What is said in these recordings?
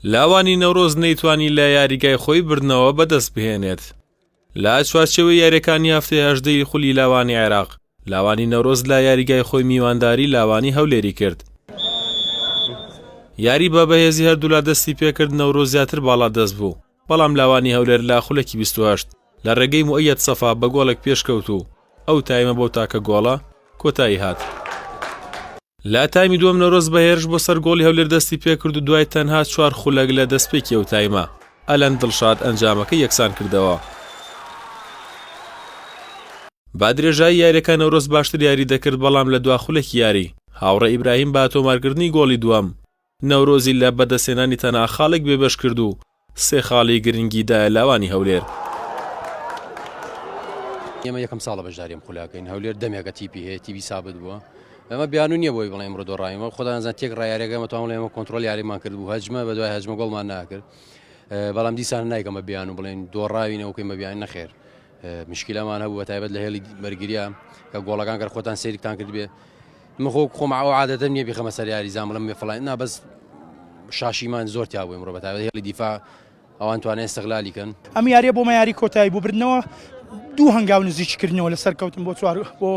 لاوانی نەورۆز نەیتوانی لە یاریگای خۆی بردنەوە بەدەست بهێنێت لە چوارچەوەی یاریەکانی هەفتەی هەژدەی خولی لاوانی عێراق لاوانی نەورۆز لە یاریگای خۆی میوانداری لاوانی هەولێری کرد یاری بە بەهێزی هەردوولا دەستی پێکرد نەورۆ زیاتر باڵا دەست بوو بەڵام لاوانی هەولێر لە خولەکی بیست و هەشت لە رێگەی موئەیەد سەفا بە گۆڵێک پێشکەوت و ئەو تایمە بەو تاکە گۆڵە کۆتایی هات. لە تایمی دووەم نەورۆز بە هێرش بۆ سەر گۆڵی هەولێر دەستی پێکرد و دوای تەنها چوار خولەک لە دەستپێکی ئەو تایمە، ئەلەند دڵشاد ئەنجامەکەی یەکسانکردەوە. بە درێژایی یاریەکە نەورۆز باشتر یاری دەکرد بەڵام لە دوا خولەکی یاری، هاوڕێ ئیبراهیم بە تۆمارکردنی گۆڵی دووەم، نەورۆزی لە بەدەستهێنانی تەنها خاڵێک بێبەش کرد و سێ خاڵی گرنگی دایە لاوانی هەولێر. ئێمە یەکەم ساڵە بەشداری ئەم خولەکەین، هەولێر دەمێکە تیپی هەیە، تیپی سابت بووە. ئەمە بیانوو نییە بۆی بڵێ ئەمڕۆ دۆڕاوین، بەڵام خۆدا نازان تێکڕای یاریەکە ئێمە توانمان ئێمە کۆنترۆڵ یاریمان کردبوو، هەجمە بە دوای هەجمە گۆڵمان ناکرد. بەڵام دیسان نایکەم بە بیانوو بڵێن دۆڕاوینە و کەین بە بیانوو نەخێر. مشکلەمان هەبوو بە تایبەت لە هێڵی بەرگریا کە گۆڵەکان گەر خۆتان سەیرتان کردبێ من خۆ خۆم ئەو عادەتەم نییە بیخەمە سەر یاریزان بڵێم بێ فڵان نا بەس شاشیمان زۆر تیا بووین ڕۆ بەتاوێت هێڵی دیفا ئەوان توانێت استغلالی کەن ئەم یاریە بۆ مەیاری کۆتایی بۆ بردنەوە دوو هەنگاو نزیککردنەوە لە سەرکەوتن بۆ چوار بۆ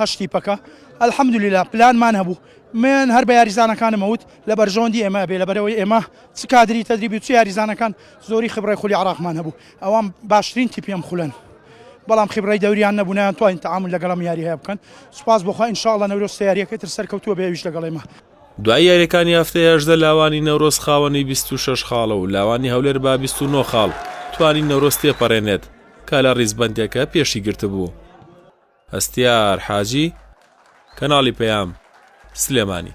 هەشتی پەکە ئەلحەمدلیلا پلانمان هەبوو من هەر بە یاریزانەکانم ئەوت لە بەرژەوەندی ئێمە بێ لە بەرەوەی ئێمە چ کادری تەدریبی چ یاریزانەکان زۆری خبڕی خولی عراقمان هەبوو ئەوان باشترین تیپی ئەم خولەن، بەڵام خیبڕەی دەوریان نەبوو نەیانتوانی تەعامول لەگەڵ ئەم یارییه بکەن، سوپاس بۆ خوا ان شاءاللە نەورۆز سێ یارییەکەی تر سەرکەوتوو ئەبێ ئەویش لەگەڵ ئێمە. دوای یاریەکانی هەفتەی هەژدە لاوانی نەورۆز خاوەنی بیست و شەش خاڵە و لاوانی هەولێر با بیست و نۆ خاڵ توانی نەورۆز تێپەرێنێت کە لە ڕیزبەندیەکە پێشی گرتبوو. هەستیار حاجی، کەناڵی پەیام، سلێمانی.